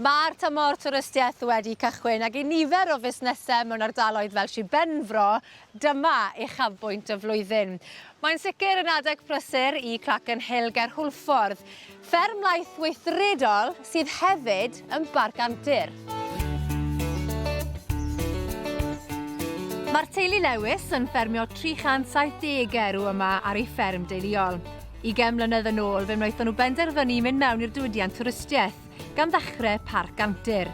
Mae'r tymor twristiaeth wedi cychwyn ac i nifer o fusnesau mewn ardaloedd fel Sir Benfro, dyma uchafbwynt y flwyddyn. Mae'n sicr yn adeg prysur i Cracken Hill ger Hwlffordd, fferm laeth weithredol sydd hefyd yn barc antur. Mae'r teulu Lewis yn ffermio 370 erw yma ar ei fferm deuluol. Ugain mlynedd yn ôl, fe wnaethon nhw benderfynu i mynd mewn i'r diwydiant twristiaeth, gan ddechrau Parc Antur.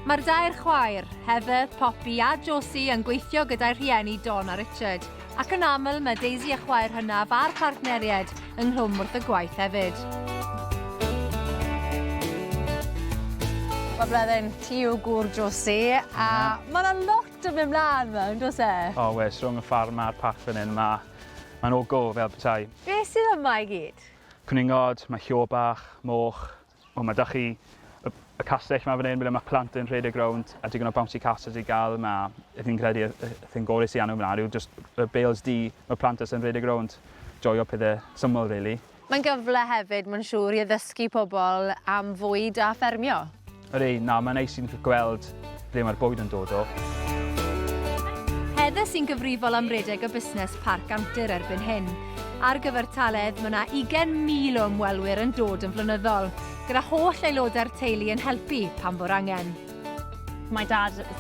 Mae'r dair chwaer, Heather, Poppy a Josie yn gweithio gyda'u rhieni Don a Richard, ac yn aml mae Daisy a chwaer hynaf a'r partneriaid ynghlwm wrth y gwaith hefyd. Mae blodyn ti yw gŵr Josie, a mae yna lot yn mynd mlaen yma, yn does e? O oes, rhwng y ffarm a'r parc fan hyn, mae... mae'n all go fel petai. Be sydd yma i gyd? Cwningod, mae llo bach, moch, o mae da chi y castell ma fan hyn ble mae plant yn rhedeg rownd a digon o bouncy castles i gael ma fi'n credu y thing gorau sy'n anw mlaen yw just y bales du mae plant jyst yn rhedeg rownd joio pethau syml rili. Mae'n gyfle hefyd mae'n siŵr i addysgu pobl am fwyd a ffermio. Ydi, na, mae'n neis i ni gweld ble mae'r bwyd yn dod o. Heather sy'n gyfrifol am redeg y busnes Parc Antur erbyn hyn. Ar gyfer Taledd, mae 'na 20,000 o ymwelwyr yn dod yn flynyddol, gyda holl aelodau'r teulu yn helpu pan fo'r angen. Mae Dad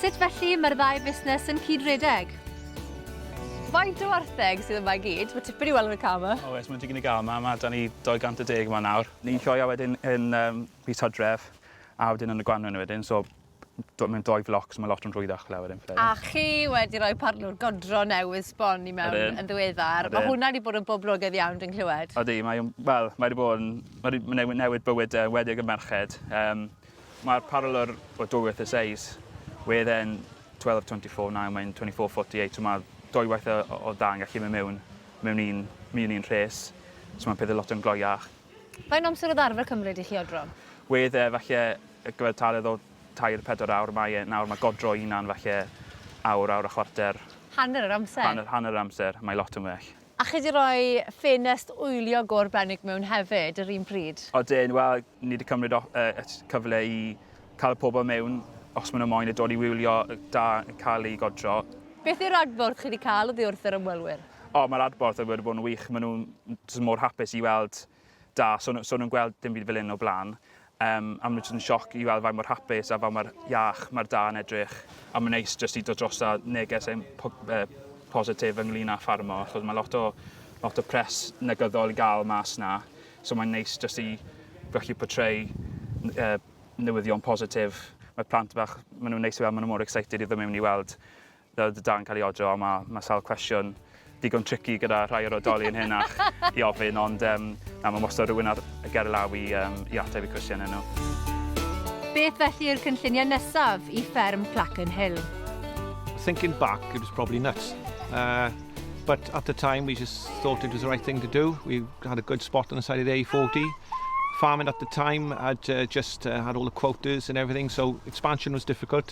Sut felly mae'r ddau fusnes yn cyd-redeg? Faint o wartheg sydd yma i gyd? Mae tipyn i weld yn y car 'ma. Oes, mae'n dipyn i gael 'ma, mae 'da ni 210 'ma nawr. Ni'n sioeau wedyn yn yym mis Hydref a wedyn yn y gwanwyn wedyn, so d- mae'n dou floc so mae lot yn rhwyddach fel wedyn fydde. A chi wedi rhoi parlwr godro newydd sbon i mewn yn ddiweddar. Ydyn. Mae hwnna wedi bod yn boblogaidd iawn dwi'n clywed. Ydy, mae, wel, mae wedi bod yn, mae wedi newid bywydau, enwedig y merched. Yym. Mae'r paralel o dwywaith y seis, where then 12 of 24, now mae'n 24 48, so mae dwywaith o, o dda yn gallu mynd mewn, mewn un, mewn un rhes, so mae'n pethau lot yn gloiach. Faint amser oedd arfer cymryd i chi odro? Wedd e falle y gyfartaledd o tair, pedwar awr, mae e nawr, mae godro i hunan falle awr, awr a chwarter. Hanner yr amser? Hanner, hanner yr amser, mae lot yn well. A chi 'di roi ffenest wylio go'r Brennig mewn hefyd yr un pryd? Odyn, wel, ni 'di cymryd o- yy y t- cyfle i cael y pobl mewn os ma' nhw moyn a dod i wylio y da yn cael ei godro. Beth yw'r adborth chi 'di cael oddi wrth yr ymwelwyr? O, mae'r adborth wedi bod yn wych. Maen nhw'n jyst mor hapus i weld Da, so nhw, so nhw'n gweld dim byd fel hyn o blaen. Um, a maen nhw jyst yn sioc i weld faint mor hapus a faint mor iach mae'r da yn edrych. A mae'n neis jyst i dod dros a neges ein po, eh, positif ynglyn â ffarmo, achos mae lot o, lot o pres negyddol i gael mas na. So mae'n neis jyst i gallu portray uh, newyddion positif. Mae plant bach, maen nhw'n neis i weld, maen nhw mor excited i ddim mewn i weld Fel y dudalen cael ei odro, ond mae mae sawl cwestiwn digon tricky gyda rhai o'r oedolion henach i ofyn, ond um, na, mae wastad rhywun ar y ger law i, um, i ateb i cwestiynau nhw. Beth felly yw'r cynlluniau nesaf i fferm Clackan Hill? Thinking back, it was probably nuts. Uh, but at the time, we just thought it was the right thing to do. We had a good spot on the side of the A40. Farming at the time had uh, just uh, had all the quotas and everything, so expansion was difficult.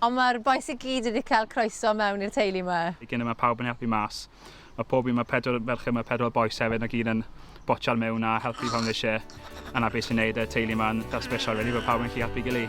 Ond mae'r bois i gyd wedi cael croeso mewn i'r teulu 'ma. I gyn y mae pawb yn helpu mas. Mae pob un mae pedwar ferch yma pedwar bois hefyd mae gyd yn botsiar mewn a helpu pan mae isie a na beth sy'n neud y teulu yma yn fel sbesial rili bod pawb yn gallu helpu gily.